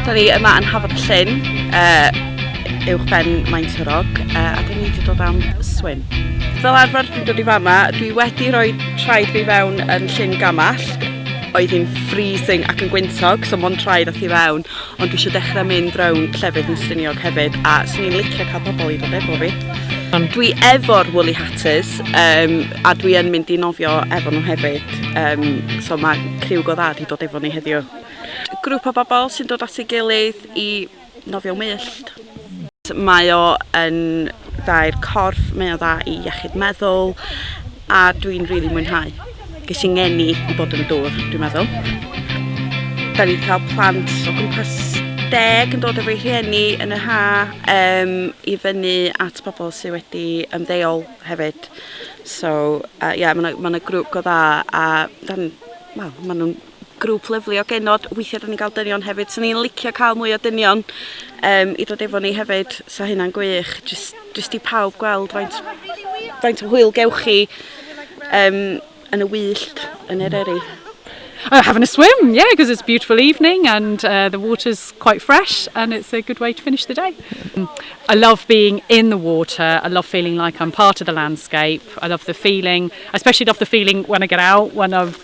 Da ni yma yn Hafod y Llyn, uh, uwch ben Maen Tyrog, uh, a da ni wedi dod am swim. Fel arfer dwi'n dod i fama, dwi wedi rhoi traed fi fewn yn llyn gamall, oedd hi'n freezing ac yn gwyntog, so mon traed ath i fewn, Ond dwi eisiau dechrau mynd rownd llefydd yn Stiniog hefyd a swn i'n licio cael pobl i ddod efo fi. Dwi efo'r Woolly Hatters um, a dwi yn mynd i nofio efo nhw hefyd. Um, so mae criw go dda di dod efo ni heddiw. Grŵp o bobl sy'n dod at ei gilydd i nofio wyllt. Mae o yn dda i'r corff, mae o dda i iechyd meddwl a dwi'n rili mwynhau. Ges i ngeni i bod yn y dŵr, dwi'n meddwl. Da ni wedi cael plant o gwmpas deg yn dod efo'i rhieni yn y ha um, i fyny at pobl sydd wedi ymddeol hefyd. So, uh, yeah, mae yna ma grwp go dda a dan, well, maen nhw'n grŵp lyfli o genod weithia' 'dan ni'n ga'l dynion hefyd so ni'n licio ca'l mwy o dynion yym i dod efo ni hefyd so hynna'n gwych jyst jyst i pawb gweld faint faint o hwyl gewch chi yym yn y wyllt yn Eryri. Uh, having a swim, yeah, because it's a beautiful evening and uh, the water's quite fresh and it's a good way to finish the day. Mm. I love being in the water. I love feeling like I'm part of the landscape. I love the feeling. I especially love the feeling when I get out, when I've